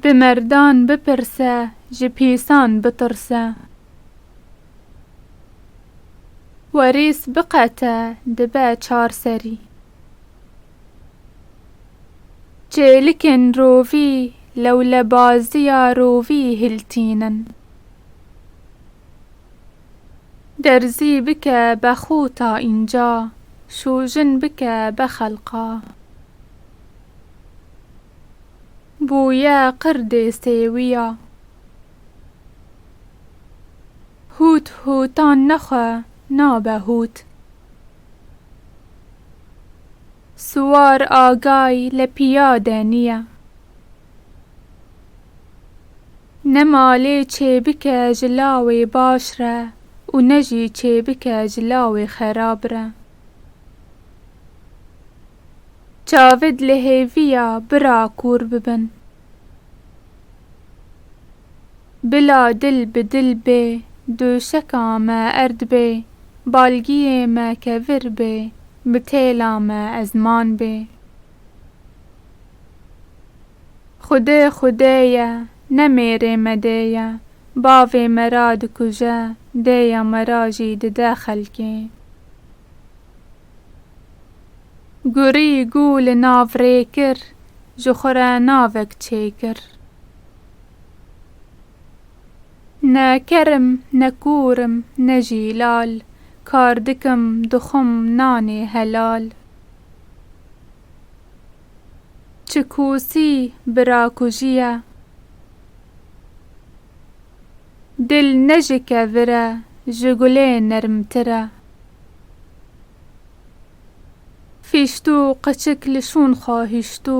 Bi merdan bipirse, ji pîsan bitirse. Werîs biqete, dibe çar serî. Çêlikên rovî lewlebaziya rovî hiltînin. Derzî bike be xûta înca. Şûjin bike be xelqa. Bûye qirdê sêwîya. Hût hûtan nexwe nabe hût. Siwar agay le pîyade nîye. Ne malê çêbike ji lawê baş re û ne jî çêbike ji lawê xerab re. Çavid li hêviya bira kûr bibin. Bila dil bi dil bê, döşeka me erd bê, balgiyê me kevir bê, bi têla me ezman bê. Xwedê xwedê ye, ne mêrê medê ye, bavê me ra dikuje, dêya me ra jî dide xelkê. Gurî gû li nav rê kir, ji xwe re navek çê kir. Ne ker im, ne kûr im, ne jî lal, kar dikim, dixwim nanê helal. Çi kûsî bira kujiye. Dil ne ji kevir e ji gulê nermtir e. Fîştû qeçik li şûn xwe hiştû.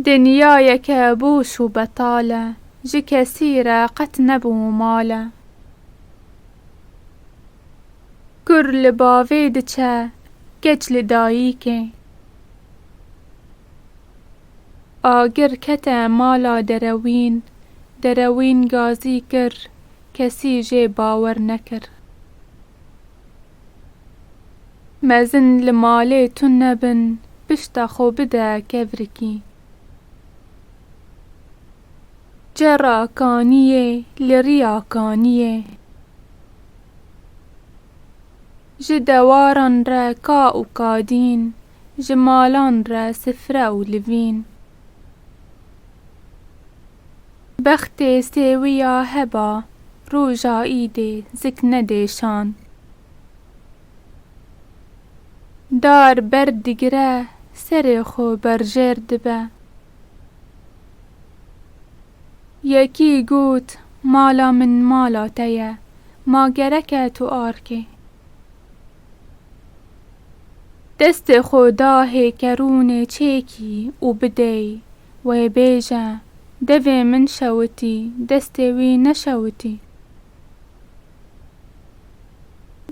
Dinyayeke boş û betal e. Ji kesî re qet nebû mal e. Kur li bavê diçe, keç li dayîkê. Agir kete mala Derewîn, Derewîn gazî kir, kesî jê bawer nekir. Mezin li malê tune bin, pişta xwe bide kevrikî. Çera kaniyê li riya kaniyê. Ji dewaran re ka û kadîn, ji malan re sifre û livîn. Bextê sêwiya heba, roja îdê zik nedê şan. Dar ber digire serê xwe berjêr dibe. Yekî got mala min mala te ye, ma gerek e tu arkê. Destê xwe da hêkerûnê çêkî û bidêy, wê bêje devê min şewitî destê wî neşewitî.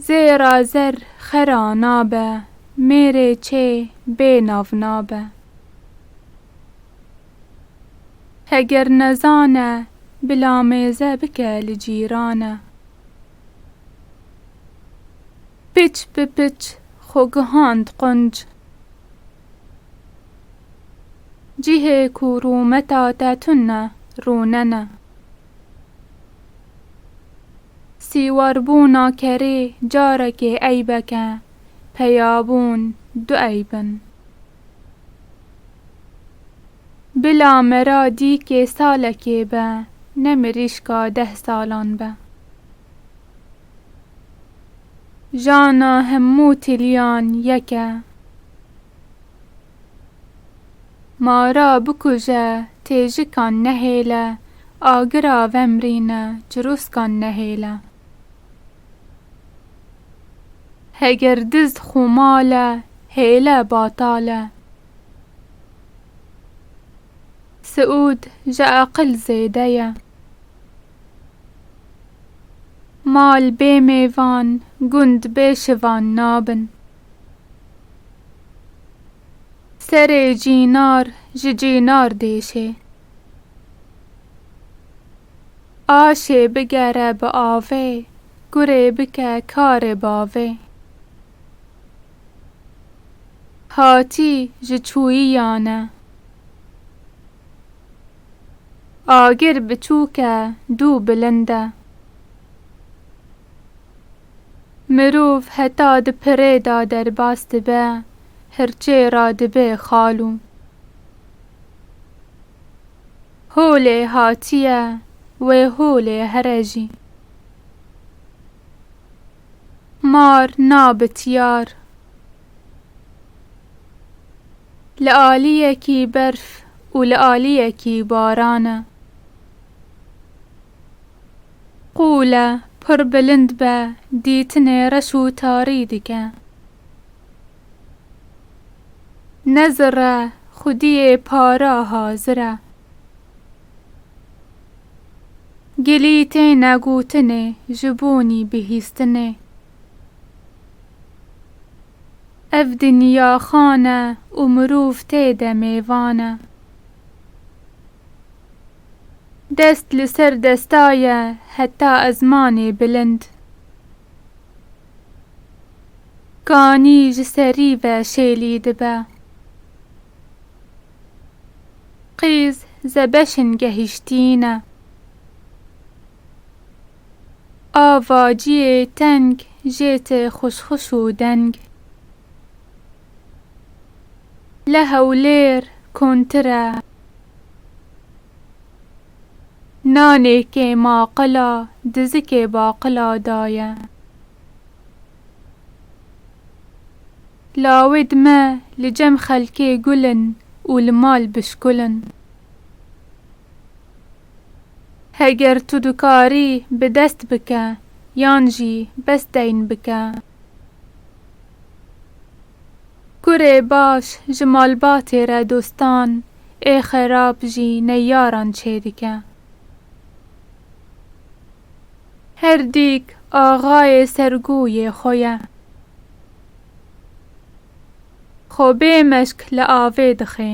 Zêra zer xera nabe. Mêrê çê bê nav nabe. Heger nezane bila mêze bike li cîrane. Piç bi piç xwe gihand qunc. Cihê ku rûmeta te tune rûne ne. Sîwarbûna kerê carekê eybek e, peyabûn du eyb in. Bila mera dîkê salekê be, ne mirîşka deh salan be. Jana hemû tiliyan yek e. Mara bikuje têjikan nehêle. Agira vemrîne cirûskan nehêle. Heger dizd xo male hêle batale. Siûd ji eqil zêde ye. Mal bê mêvan gund bê şivan nabin. Serê cînar ji cînar dêşê. Aşê bigere bi avê, gurê bike karê bavê. Hatî ji çûyiyan e. Agir biçûk e dû bilind e. Mirov heta di pirê de derbas dibe, hirçê re dibe xalo. Holê hatiye, wê holê here jî. Mar na bi tiyar. Li aliyekî berf û li aliyekî baran e. Qûle pir bilind be dîtinê reş û tarî dike. Ne zirre xwediyê para hazir e. Gilî têne gotinê ji bonî bihîstinê. Ev dinya xan e û mirov tê de mêvan e. Dest li ser desta ye heta ezmanê bilind. Kanî ji serî ve şêlî dibe. Qîz zebeşin gehîştîne. Ava ciyê teng jê tê xuşxuş û deng. Li Hewlêr kontir e. Nanê kê ma qila dizikê baqila daye. Lawê dime li cem xelkê gul in û li mal bişkul in. Heger tu dikarî bi dest bike yan jî bes deyn bike. Kurê baş ji malbatê re dostan ê xerab jî neyyaran çêdike. Her dîk axayê sergûyê xwe ye. Xwe bê meşk li avê dixê.